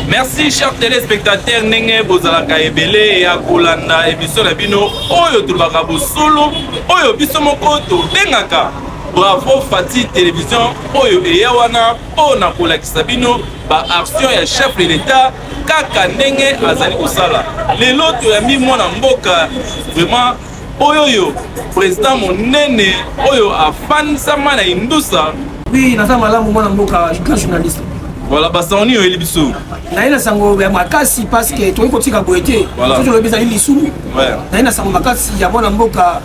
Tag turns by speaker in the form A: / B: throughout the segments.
A: merci cher téléspectateur ndenge bozalaka ebele ya kolanda emission na bino oyo tolobaka bosolo oyo biso moko tobengaka bravo fati télévision oyo eya wana mpo na kolakisa bino ba action ya chef de l'etat kaka ndenge azali kosala lelo toyambi mwana mboka vraiment oyoyo président monene oyo afandisama na indusa oui naza malamu
B: mwana mboka grand journaliste voilà basango nini
A: oyeli biso naye na sango ya
B: makasi parce que toyei kotika boye te soki olobi ezali lisumu naye na sango makasi ya mwana mboka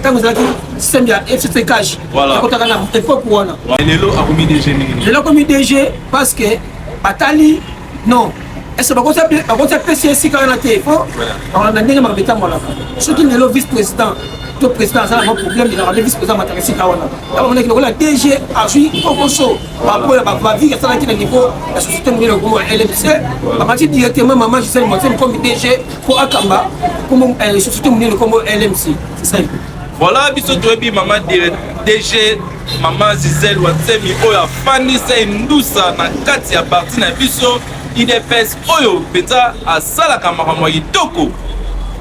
B: ntango ezalaki système ya fcc cash akotaka na
A: époque
B: wana lelo akomi dg
A: mingi lelo akomi dg
B: parce que batali non est-ce que bakoti apesi esika wana te po na ndenge makambo etambolaka soki lelo vice président to président aza nango problème elaka nde vice président mataka esika wana abamonaki lokola dg azwi kokoso bapola bavie asalaki na niveau ya société monene lokomo ya lmc bamati directement mama gisele motiemi comme dg Ko akamba kombo eh, société monene
A: kombo LMC, c'est ça. Voilà biso toyebi mama dire DG mama Gisèle Watsemi oyo afandi se ndusa na kati ya parti na biso IDPS oyo mpenza asalaka makambo ya kitoko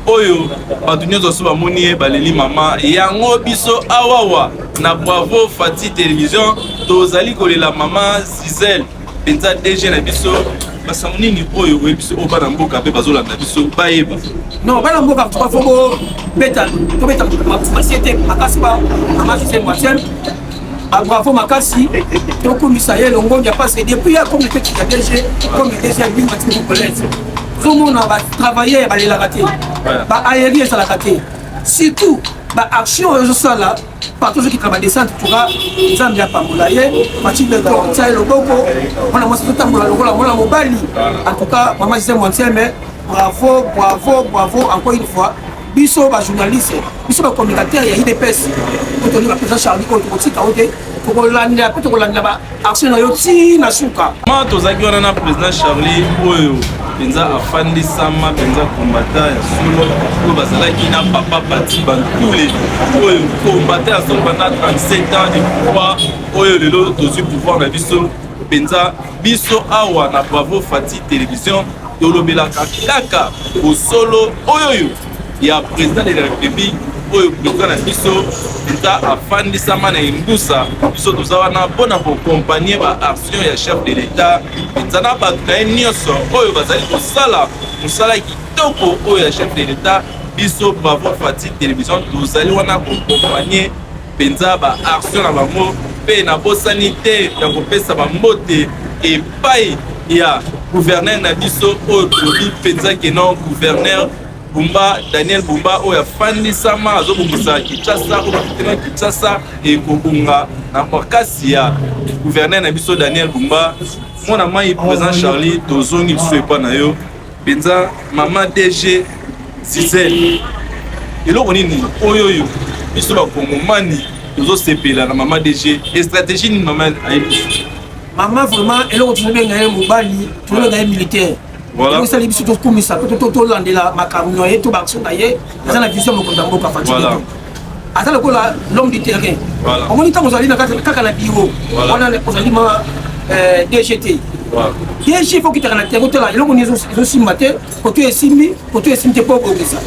A: oyo bato nyonso so bamoni ye baleli mama yango biso awawa na bravo fati television tozali kolela mama zizele penza DG na biso basango nini oyo oyebi biso oyo bana mboka mpe bazolanda biso bayeba non bana mboka
B: tuka fo bobeta tobeta masie te makasi ba amasusen moitième babravo makasi tokumisa ye longonya parce que depuis ya comité ya DG comme DG ya bimati congolaise tozomona batravailleur balelaka te baaeri ezalaka te surtout baaction oyo ezosala partout ozokita badesante tuka nzambe apambola ye matilde tortia ye loboko mwana mwasi totambola lokola mwana mobali en tout cas mama gisele mwantieme bravo bravo bravo encore une fois biso bajournaliste biso bacommunicateur ya idps oyo tolinga mpenza charlie oyo tokotika oyo te tokolandela mpe tokolandela action na yo ti na suka ma tozalaki wana na
A: président charlie oyo mpenza afandisama mpenza kombata ya solo oyo bazalaki na papa pati bantule oyo kombata ya solo banda 37 ans de pouvoir oyo lelo tozwi pouvoir na biso mpenza biso awa na bravo fati télévision tolobelaka kaka bosolo oyoyo ya president de la republique oyo president na biso eza afandisama na imbusa biso toza wana mpo na kokompagne baaction ya chef de l'etat eza na bato na ye nyonso oyo bazali kosala mosala kitoko oyo ya chef de l'etat biso bravo fati television tozali wana kokompagne mpenza ba actions na bango mpe nabosani te ya kopesa bambote epai ya gouverneur na biso oyo tolobi mpenza keno gouverneur Bumba, Daniel Bumba oyo afandisama azobongisa Kinshasa oyo bakitema Kinshasa ekobonga na makasi ya gouverneur na biso Daniel Bumba mwana mai présent Charlie tozongi lisusu epai na yo Penza maman DG Gisèle. Eloko nini oyo oyo biso ba kongomani tozo sepela na maman DG. Et stratégie nini maman ayebi?
B: Maman vraiment eloko tozo benga ye mobali, tozo benga ye militaire. Voilà. Tozo sala biso to kumisa, to to to landela makambo ye to bakso na ye, eza na vision mokonda mboka fatigué. Voilà. aza lokola l'homme du terrain omoni ntango ozali kaka na biro wana ozali ma euh, dgt dg fo okitaka na terrain otala eloko nini ezosimba te koto esimbi koto esimbi te mpo obongisa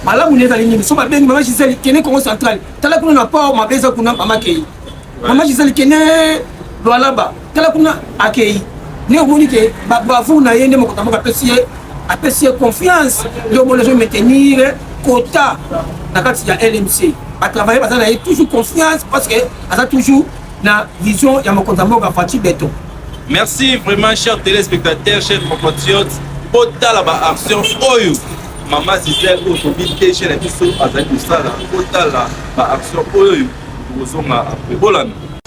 B: malamu nde ezali nini so babengi mama gisele kende congo central tala kuna na port mabe eza kuna mama kei mama gisele kende lwalaba tala kuna akei nde omoni ke babravour na ye nde mokonzi ya mboka apesi ye apesi ye confiance nde omoni azo maintenir kota na kati ya lmc batravaille baza na ye toujours confiance parce que aza toujours na vision ya mokonzi ya mboka faci beton merci
A: vraiment cher téléspectateur cher compatriote botala baaction oyo mama gisele oyo tobi te chez na biso azali kosala botala baaction oyo tokozonga apres bolanda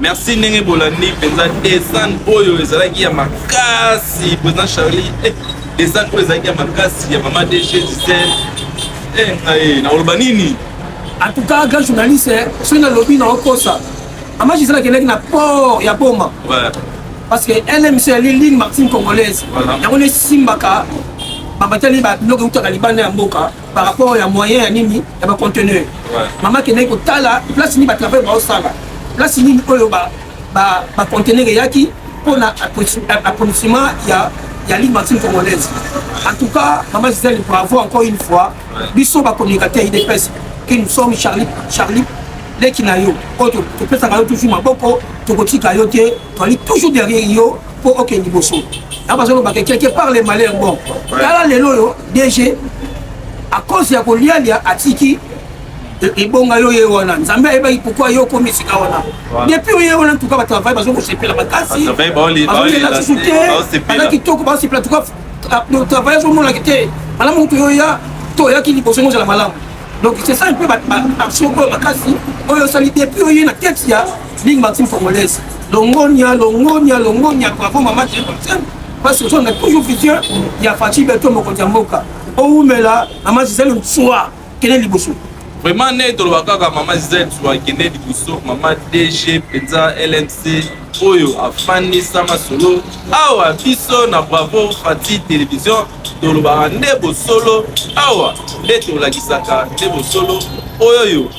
C: merci ndenge bolandi
A: mpenza desane oyo ezalaki ya makasi président charlie eh, desane oyo ezalaki ya makasi ya mama dg gisele eh, eh, nakoloba nini en tout cas
B: grand journaliste eh, soki nalobi naokosa mama gisele akendaki na port ya boma ouais. parce que lmc yali ligne martine congolaise yango voilà. nesimbaka babatali babiloko eutaka libanda ya mboka par rapport ya moyen ya nini ya ba conteneur mama kendaki kotala place nini batravail baosala place nini oyo baconteneur eyaki mpo na approvisionnement ya ya ligue maxime congolaise en tout cas mama gisele bravo encore une fois biso bacommunicateur idps que nous sommes charlie charlie leki na yo oyo topesaka yo toujours maboko tokotika yo te toali toujours derrière yo po okende liboso na bazoloba ke quelque part le malheur bon tala lelo oyo dg à cause ya kolialia atiki ebonga yo ye wana nzambe ayebaki pourkui yo okomi esika wana depuis oye wana ntuka bato bavai bazo kosepela makasi bazolela susu te baza kitoko bazosepela tuka travail azomonaki te malamu moto yo ya to oyaki liboso yango ozala malamu donc c'est ça un peu baction oyo makasi oyo osali depuis oye na tete ya Bing Maxime Congolaise. Longonia, longonia, longonia. Bravo maman Jane Maxime. Parce que on a toujours vision. Il y a Fatih Beto Mokondia Moka. Oumela, maman Gisèle Mtsua. Quel est le bouchon? Vraiment, né, tu
A: l'as kaka maman Gisèle Mtsua. Quel est le bouchon? Maman DG, Penza, LMC. oyo afandisa masolo awa biso na bravo fati television tolobaka nde bosolo awa nde tolakisaka nde bosolo oyoyo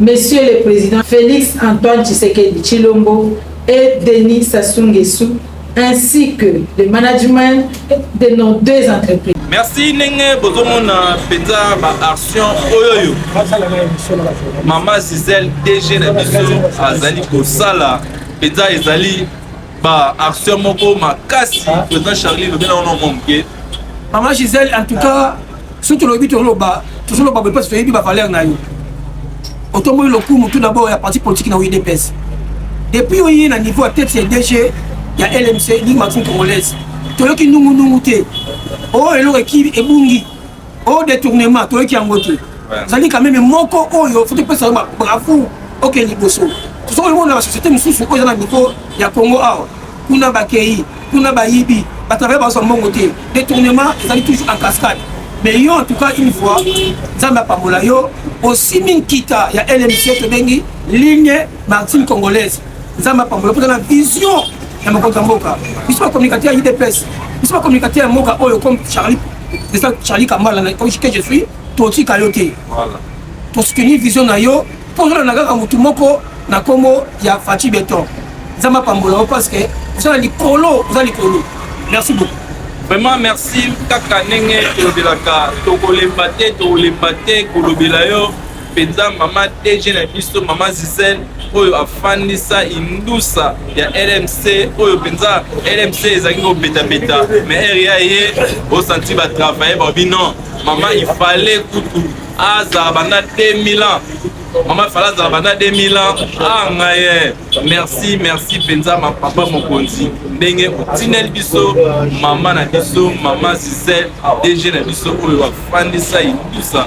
C: Monsieur le President Felix Antoine Tshisekedi Tshilombo et Denis Sassou Nguesso ainsi que le management de nos deux entreprises. merci ndenge
A: bozomona mpenza baaction oyo oyo mama gisele dg na biso azali kosala mpenza ezali ba action moko makasi ah. président charlie lobi na wana mwa moke mama gisele
B: en tout cas soki tolobi toloba tozoloba boye mpasi toyebi bavaleur na yo otomboki lokumu tout d'abord ya parti politique na udps depuis oye na niveau ya tete ya dg ya lmc ligue maxime congolaise toyoki nungunungu te oyo oh, eloko ebungi o detournement toyoki yango te ezali quand meme moko oyo faut topesa yo bravo okende liboso tosoki komona na société mosusu oyo eza na niveau ya congo awa kuna bakei kuna bayibi batravaya bazwa mbongo te detournement ezali toujours en cascade mais yo en tout cas une fois nzambe apambola yo osimbi nkita ya lmc tobengi ligne martine congolaise Nzambe apambola mpo na vision ya mokonzi ya mboka biso bacommunicateur ya idps biso bacommunicateur ya mboka oyo comme charlie eza charlie kambala na que je suis totika yo te tosoutenir vision na yo mpo ozolanda kaka motu moko na nkombo ya faci beton nzambe apambola yo parce que oza na likolo oza likolo merci beaucoup vraiment merci
A: kaka ndenge tolobelaka tokolemba te tokolemba te kolobela yo penza mama DG na biso mama Zizel oyo afandisa indusa ya LMC oyo penza LMC ezalaki kobeta beta mais ere ya ye osanti ba travailler ba bino mama il fallait kutu azala banda 2000 ans mama fala azala banda 2000 ans anga ah, ye merci merci mpenza papa mokonzi ndenge otineli biso mama na biso mama zizet dg na biso oyo afandisa indusa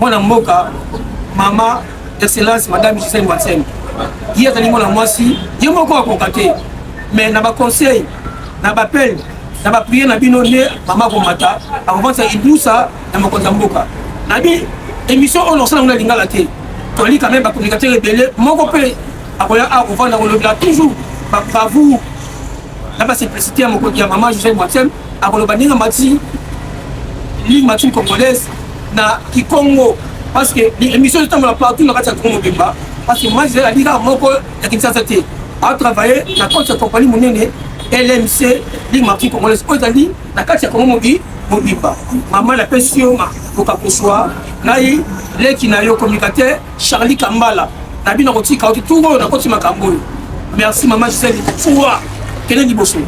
B: mwana mboka mama excellence madame gisele wansen ye azali mwana mwasi ye moko akoka te mais na baconseil na bapele na bapriere na bino nde mama akomata akovansa ibusa na mokonzi ya mboka nabi émission oyo nakosala ngo na lingala te toli quand même bacommunicateur ebele moko mpe akoya akovanda kolobela toujours babravoure na ba simplicité ya mokonzi ya mama Joseph Mwatsembe akoloba ndenge amati ligne matine congolaise na kikongo parce que émission ezotambola partout na kati ya kongo mobimba parce que mama Joseph ali kaka moko ya kinshasa te atravaille na koti ya kompani monene lmc ligne matine congolaise oyo ezali na kati ya kongo mobi mobimba mama napesi yo bokakuswa ngai leki na yo communicateur Charlie Kambala na bino kotika oki tout oyo nakoti makambo oyo merci mama Gisèle Fua kende liboso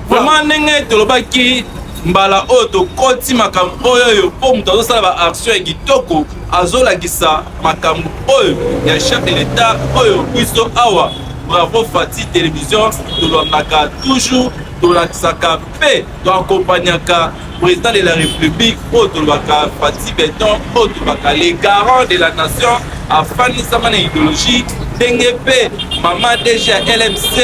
B: vraiment
A: ndenge tolobaki mbala oyo tokoti makambo oyo oyo mpo moto azosala baaction ya kitoko azolakisa makambo oyo ya chef de l'etat oyo biso awa bravo fati television tolobaka toujours tolakisaka mpe toakompanyaka président de la république oyo tolobaka fati beton oyo tolobaka le garant de la nation afandisama na idéologie ndenge mpe mama dg ya lmc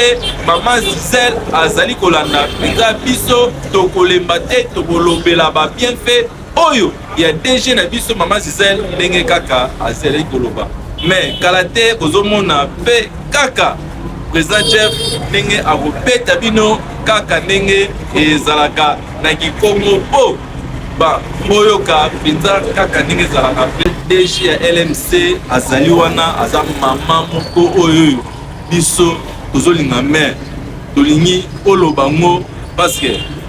A: mama zizel azali kolanda mpenza biso tokolemba te tokolobela babienfait oyo ya DG na biso mama Gisèle ndenge kaka azali koloba mais kala te bozomona mpe kaka président Jeff ndenge akobeta bino kaka ndenge ezalaka na kikongo po ba boyoka mpenza kaka ndenge ezalaka mpe DG ya LMC azali wana aza mama moko oyo biso tozolinga mais tolingi oloba ngo parce que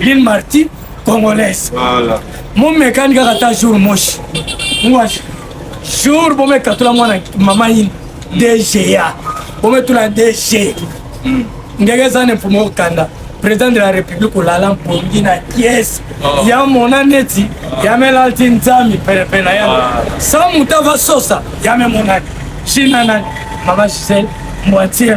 B: Lil Marty congolaise. Voilà.
A: Mon mécanique
B: a ta jour moche. Moi jour bon mec katula mwana maman in DGA. Bon mec tula DG. Hmm. Ngege zane pour mon kanda. Président de la République ou lalam pour na kies. Oh. Ya mona neti ah. ya melalti nzami pele pele ya. Ah. Sa mutava sosa ya me monani. Shina nani. Mama Giselle moitié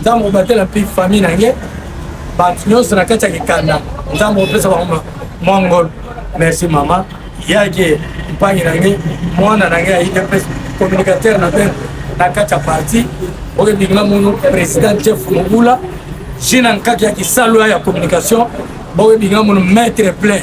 B: nzambe obatela mpe famille na ye bato nyonso na kati ya kikanda nzambe opesa bango mwa ngolu merci mama yake mpangi na nge mwana na nge ya idps communicateur na bene na kati ya parti oyo ebinga mono président jeff mobula jina nkaki ya kisalo ya communication boyo ebinga mono maître plein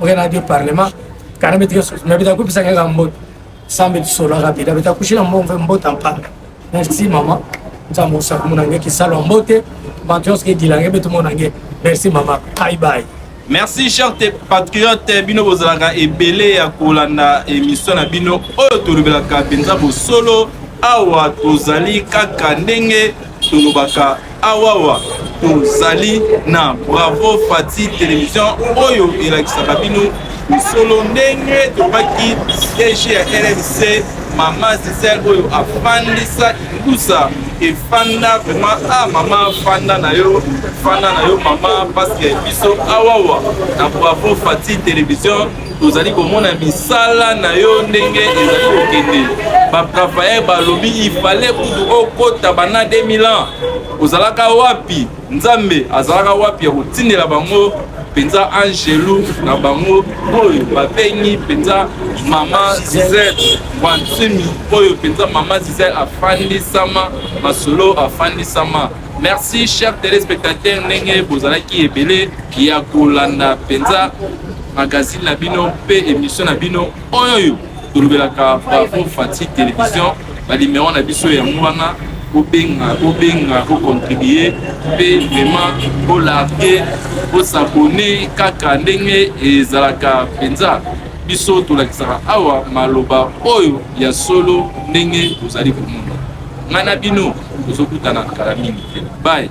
B: okenda adi parlement kana betike soso me beta kopesa kaka mboto sambe tisolaka beta beta kushila mbongo mpe mbota mpanga merci mama nzambe osaka mona nge kisalwa mbote bato nyonso kedila nge mpe tomona nge merci mama bye bye merci cher
A: te patriote bino bozalaka ebele ya kolanda émission na bino oyo tolobelaka mpenza bosolo awa tozali kaka ndenge tolobaka awawa tozali na bravo fati television oyo elakisaka bino solo ndenge tobaki siège ya rmc mama zisel oyo afandisa ingusa efanda vraiment a ah, mama fanda na yo fanda na yo mama mpasi ya biso awawa na bravo fati television tozali komona misala na yo ndenge ezali kokende baprafael balobi ifale kutu okota bana 2000 ans ozalaka wapi nzambe azalaka wapi ya kotindela bango mpenza angelu na bango oyo babengi mpenza mama zizel wansimi oyo mpenza mama zizel afandisama masolo afandisama Merci chers téléspectateurs ndenge bozalaki ebele ya kolanda mpenza magazine na bino mpe émission na bino oyo tolobelaka bravo fati télévision balimero na biso yango wana bobenga bobenga bocontribue mpe vraiment bolarge bosabone kaka ndenge ezalaka mpenza biso tolakisaka awa maloba oyo ya solo ndenge tozali komona ngai na bino tozokutana kala mingi te
D: baye